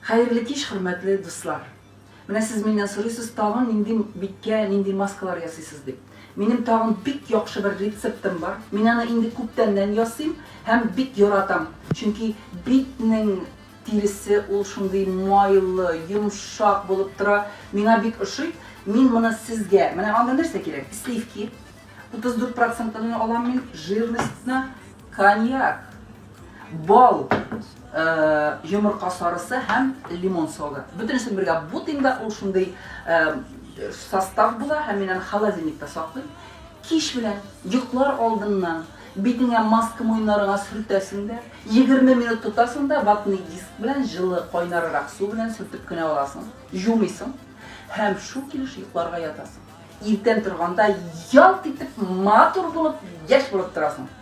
Хәерле кич хөрмәтле дуслар! Менә сез миннән сорыйсыз тагын нинди биткә нинди маскалар ясыйсыз дип. Минем тагын бик яхшы бер рецептым бар. Мин аны инде күптәннән ясыйм һәм бик яратам. Чөнки битнең тиресе ул шундый майлы, йомшак булып тора. Миңа бик ошый. Мин моны сезгә, менә анда нәрсә кирәк? Сливки, 34 процентлыны алам мин, жирностьны, коньяк. Бал, э, йомырка сарысы һәм лимон согы. Бөтенесен бергә бутыйм да, ул шундый э, состав була һәм мин аны холодильникта саклыйм. Кич белән, йоклар алдыннан битеңә маска муеннарыңа сөртәсең дә, 20 минут тотасың да, ватный диск белән җылы кайнарырак су белән сөртеп кенә аласың, җумыйсың һәм шул килеш йокларга ятасың. Иртән торганда ялт итеп матур булып, яшь булып торасың.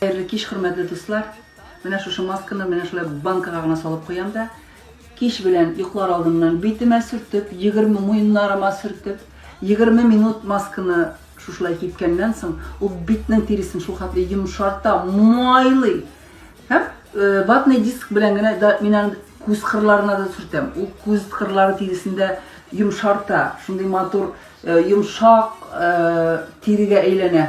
Хәерле кич, хөрмәтле дуслар! Менә шушы масканы менә шулай банкага гына салып куям да, кич белән йоклар алдыннан битемә сөртеп, 20 муеннарыма сөртеп, 20 минут масканы шушылай кипкәннән соң, ул битнең тиресен шул хәтле йомшарта, майлый. Һәм ватный диск белән генә да мин аны күз кырларына да сөртәм. Ул күз кырлары тиресендә йомшарта, шундый матур йомшак тирегә әйләнә.